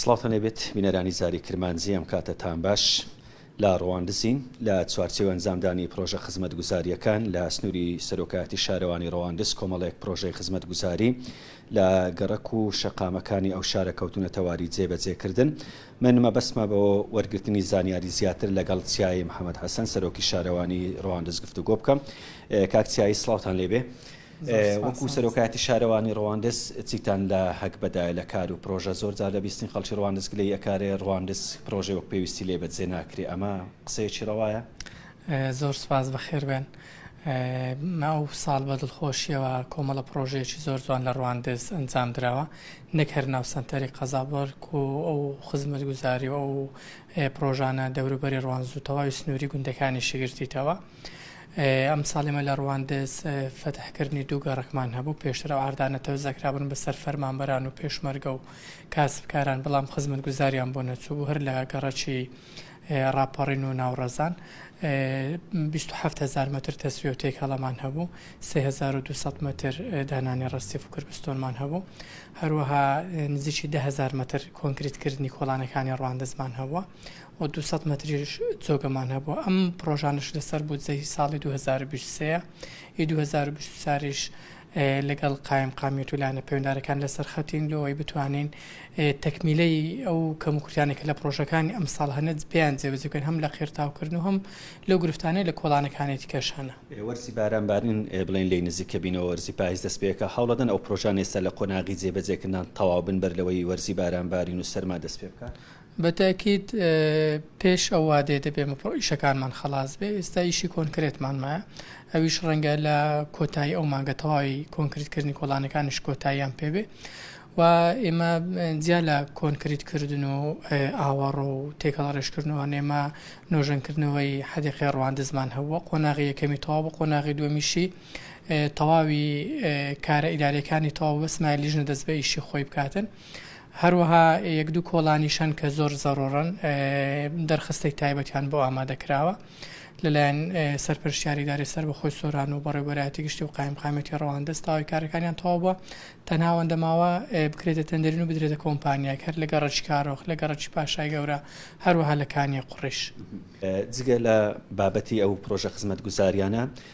سڵاوتان لێبێت بینەرانی زاری کرمانجی ئەم کاتە تان باش. لە ڕواندزین لە چوارچێوە ئەنجامدانی پرۆژە خزمەتگوزارییەکان لە سنووری سەرۆکایەتی شارەوانی ڕەواندز کۆمەڵێک پرۆژەی خزمەتگوزاری لە گەڕەک و شەقامەکانی ئەو شارە کەوتونە تەواری جێبەجێکردن من مەبەستمە بۆ وەرگرتنی زانیاری زیاتر لەگەڵ چیایی محەممەد حەسەن سەرۆکی شارەوانی ڕواندز گفتوگۆ بکەم کاک چیایی سڵاوتان لێبێ وەکو سەرۆکایەتی شارەوانی ڕواندز چیتان لە هەک بەدایە لە کار و پرۆژە زۆر جار لە بیستنی خەڵکی ڕواندز گلەی ئەکارێ ڕواندز پرۆژەی وەک پێویستی لێ بە جێ ناکرێ ئەمە قسەیەکی ڕەوایە؟ زۆر سوپاس بەخێر بێن ئەو ساڵ بە دڵخۆشیەوە کۆمەڵە پرۆژەیەکی زۆر جوان لە ڕواندز ئەنجام دراوە نەک هەر ناو سەنتەری قەزا بەرک و ئەو خزمەت گوزاری و ئەو پرۆژانە دەوروبەری ڕوانز و تەواوی سنووری گوندەکانی شگرتیتەوە ئەمساڵ ئێمە لە ڕواندز فەتحکردنی دوو گەڕەکمان هەبوو، پێشتر ئەو ئاردانە تەوزئەکرابوون بەسەر فەرمانبەران و پێشمەرگە و کاسبکاران، بەڵام خزمەتگوزاریان بۆ نەچووبوو، هەر لە گەڕەکی ڕاپەڕین و ناوڕەزان بیست و حەفت هەزار مەتر تەسویە و تێکەڵەمان هەبوو، سێ هەزار و دوو سەد مەتر دانانی ڕەسیف و کربستۆنمان هەبوو، هەروەها نزیکی دە هەزار مەتر کۆنکریتکردنی کۆڵانەکانی ڕواندزمان هەبووە و دوو سەد مەتریش جۆگەمان هەبوو، ئەم پڕۆژانەش لەسەر بودجەی ساڵی دوو هەزار و بیست و سێ ی دوو هەزار و بیست و چاریش لەگەڵ قایمقامیەت و لایەنە پەیوەندارەکان لەسەر خەتین بۆ ئەوەی بتوانین تەکمیلەی ئەو کەموکورتیانە کە لە پڕۆژەکانی ئەمساڵ هەنە بیان جێبەجێ بکەین هەم لە قیرتاوکردن و هەم لەو گرفتانەی لە کۆڵانەکانی دیکەش هەنە. وەرزی بارانبارین بڵێین لێی نزیکە بین و وەرزی پایز دەست پێکا، هەوڵەدەن ئەو پڕۆژانە ئێستا لە قۆناغی جێبەجێکردنان تەواو بن بەر لەوەی وەرزی بارانبارین و سەرما دەست پێبکات. بە تەئکید پێش ئەو وادەیە دەبێ مەپڕ ئیشەکانمان خەڵاس بێ ئێستا ئیشی کۆنکرێتمان مایە ئەویش ڕەنگە لە کۆتایی ئەو مانگە تەواوی کۆنکریتکردنی کۆڵانەکانیش کۆتاییان پێبێ و ئێمە جیا لە کۆنکریتکردن و ئاوەڕ و تێکەڵ ڕێژکردنەوە نێمە نۆژەنکردنەوەی حەدیقی ڕواندزمان هەبووە قۆناغی یەکەمی تەواو بە قۆناغی دومیشی تەواوی کارە ئیدارەکانی تەواو بەسمای لیژنە دەست بە ئیشی خۆی بکاتن هەروەها یەک دوو کۆڵانیش هەن کە زۆر زەڕوڕن دەرخستەی تایبەتیان بۆ ئامادەکراوە لەلایەن سەرپەرشتیاری دارێ سەر بەخۆی سۆران و بەڕێبەرایەتی گشتی و قایمقامەتی ڕەواندەست تاوای کارەکانیان تەواو بووە تەناوەندە ماوە بکرێتە تەندەرین و بدرێتە کۆمپانیا کەر لە گەڕەکی کارۆخ لە گەڕەکی پاشای گەورە هەروەها لە کانیە قڕیش. جگە لە بابەتی ئەو پرۆژە خزمەتگوزاریانە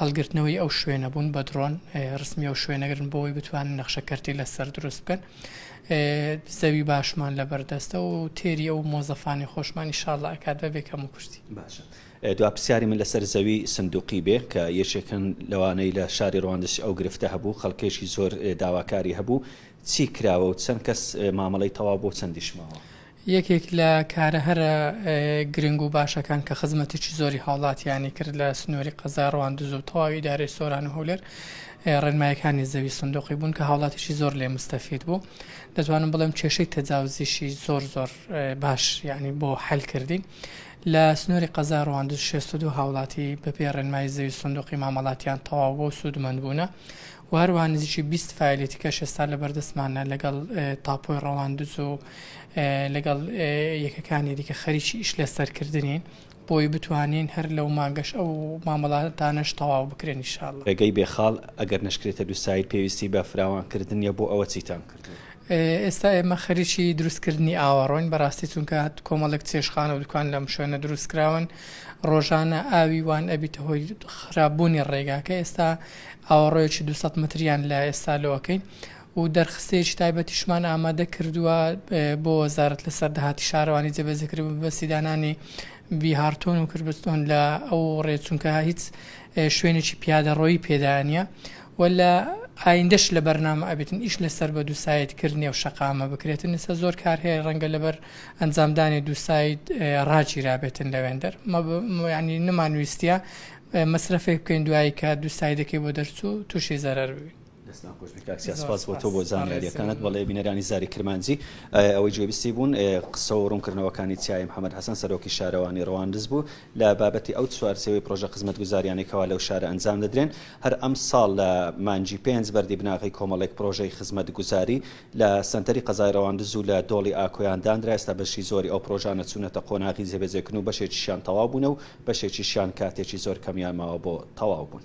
هەڵگرتنەوەی ئەو شوێنە بوون بە درۆن رسمی ئەو شوێنەگرن بۆەوەی بتوانن نەخشە کەرتی لەسەر دروست بکەن زەوی باشمان لە بەردەستە و تێری ئەو مۆزەفانی خۆشمانی شاڵە ئەکات بە بێکەم و کورتی باشە دوا پرسیاری من لەسەر زەوی سندوقی بێ کە یەکێکن لەوانەی لە شاری ڕواندش ئەو گرفتە هەبوو خەڵکێکی زۆر داواکاری هەبوو چی کراوە و چەند کەس مامەڵەی تەوا بۆ چەندیش ماوە؟ یەکێک لە کارە هەرە گرنگ و باشەکان کە خزمەتێکی زۆری هاوڵاتیانی کرد لە سنووری قەزای ڕواندز و تەواوی ئیدارەی سۆران و هەولێر ڕێنمایەکانی زەوی سندوقی بوون کە هاوڵاتیی زۆر لێ مستەفید بوو دەتوانم بڵێم کێشەی تەجاوزیشی زۆر زۆر باش یعنی بۆ حل کردین لە سنووری قەزای ڕواندز 62 هاوڵاتی بەپێ ڕێنمایی زەوی سندوقی مامەڵاتیان تەواو بۆ سوودمەند بوونە و هەروەها نزیکی بیست فایلی تکەش ئێستا لەبەردەستمانە لەگەڵ تاپۆی ڕەواندز و لەگەڵ یەکەکانی دیکە خەریکی ئیش لەسەر کردنین بۆی بتوانین هەر لەو مانگەش ئەو مامەڵاتانەش تەواو بکرێن ان شاء اللە. ڕێگەی بێ خاڵ ئەگەر نەشکرێتە دوو ساید پێویستی بە فراوان کردنیە بۆ ئەوە چیتان کردووە؟ ئێستا ئێمە خەریکی دروست کردنی ئاوەڕۆین بەڕاستی چونکە کۆمەڵێک چێشتخانە و دوکان لەم شوێنە دروست کراون ڕۆژانە ئاوی وان ئەبیتە هۆی خراپ بوونی ڕێگاکە ئێستا ئاوەڕۆیەکی دوو سەد مەتریان لە ئێستا لۆ ئەکەین و دەرخستەیەکی تایبەتیشمان ئامادە کردووە بۆ وەزارەت لەسەر داهاتی شارەوانی جێبەجێکرد بە مەبەستی دانانی بیهارتۆن و کربستۆن لە ئەو ڕێ چونکە هیچ شوێنێکی پیادەڕۆیی پێدا نییە و لە ئایندەش لە بەرنامە ئەبێتن ئیش لەسەر بە دووسایت کردنی و شەقامە بکرێتن لەسە زۆر کار هەیە ڕەنگە لەبەر ئەنجامدانی دووسایت ڕاگیرابێتن لەوێندەر ینی نمانویستە مەسرەفێک بکەین دوایی کە دووسایدەکەی بۆ دەرچوو تووشی زەرەر ببین. دەستان خۆش بێت کاک سیاس سپاس بۆ تۆ بۆ زانیاریەکانت بەڵێ بینەرانی زاری کرمانجی ئەوەی گوێبیستی بوون قسە و ڕوونکردنەوەکانی تایەی محەمەد حەسەن سەرۆکی شارەوانی ڕەواندز بوو لە بابەتی ئەو چوارچێوەی پرۆژە خزمەتگوزاریانەی کەوا لەو شارە ئەنجام دەدرێن هەر ئەمساڵ لە مانگی پێنج بەردی بناغەی کۆمەڵێک پرۆژەی خزمەتگوزاری لە سەنتەری قەزای رەواندز و لە دۆڵی ئاکۆیان دانرا، ئێستا بەشی زۆری ئەو پرۆژانە چوونەتە قۆناغی جێبەجێکردن و بەشێکیشیان تەواو بوونە و بەشێکیشیان کاتێکی زۆر کەمیان ماوە بۆ تەواو بوون.